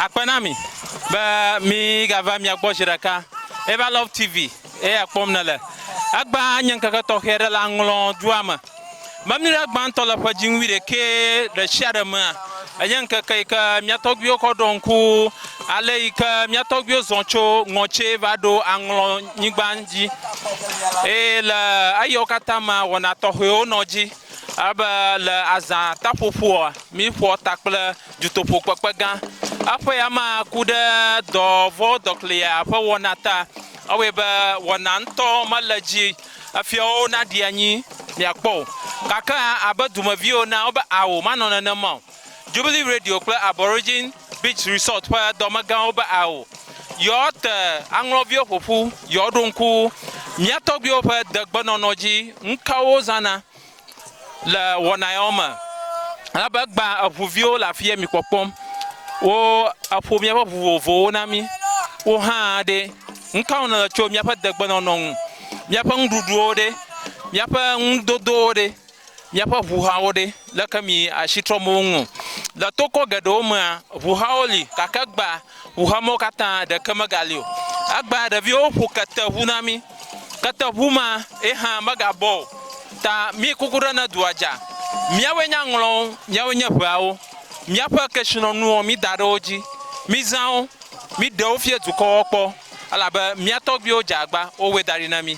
Akpe na mi be mi gava mia gbɔ zi ɖeka. Eva Love TV eye akpɔm ne le. Egbã nye ŋkeke tɔxɛ ɖe le aŋlɔ dua me. Memi ɖe gbãtɔ le ƒe dziŋ wuiɖekɛ ɖe sia ɖe mea, enye ŋkeke yi ke mia tɔgbuiwo kɔ ɖɔ ŋku ale yi ke mia tɔgbuiwo zɔ tso ŋɔtse va ɖo aŋlɔ nyigba dzi. Eye le eyɔ katã mea, wɔna tɔxɛwo nɔ dzi. Alebe le azã taƒoƒoa, míƒoa ta kple dutoƒokpekpe gã. Eƒe ya ma ku ɖe dɔ vɔ̃ dɔklia ƒe wɔna ta. Ewɔe be wɔna ŋutɔ mele edzi efiawo naɖi anyi miakpɔ o. Gake abe dumeviwo ene, wobe, Ao, manɔ nenema o. Jubilee Radio kple Aborigine Beach Resort ƒe dɔmegãwo be ao yewoate aŋlɔviwo ƒo ƒu, yewoaɖo ŋku mía tɔgbuiwo ƒe degbenɔnɔ dzi, nukawo wozãna le wɔna yawo me. Elabe gbã eŋuviwo le afi ye mi kpɔkpɔm, wo eƒo míaƒe ŋu vovovowo na mí. Wo hã ɖe, nukawo nèle tso míaƒe degbenɔnɔ ŋu? Míaƒe nuɖuɖuwo ɖe? Míaƒe nudodowo ɖe? Míaƒe ʋu hawo ɖe, leke mi asi trɔm wo ŋu? Le tokɔ geɖewo mea, ʋu hawo li, gake egbea ʋu hamewo katã ɖeke megali o. Egbea ɖeviwo ƒo kete ʋu na mí. Kete ʋu ma ye hã megabɔ o. Ta mi kuku ɖe ne dua dza. Míawoe nye aŋlɔwo, míawoe nye ʋeawo. Míaƒe kesinɔnuwo mi da ɖe wo dzi. Mi zã wo, mi ɖe wo fia dukɔwo kpɔ, elabe mía tɔgbuiwo dze agba, wo wɔe da ɖi na mí.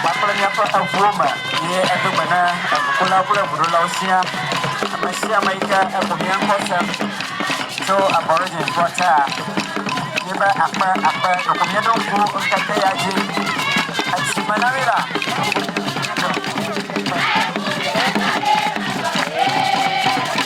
Kpakple míaƒe eŋuwo me ye edo gbe na eŋukulawo kple eŋuɖolawo siaa. Ame sia ame yi ke eŋu mía ŋkɔ se tso Aborigines gbɔ taa, míebe akpe akpe ɖeko míeɖo ŋku ŋkeke ya dzi esi me na mí la.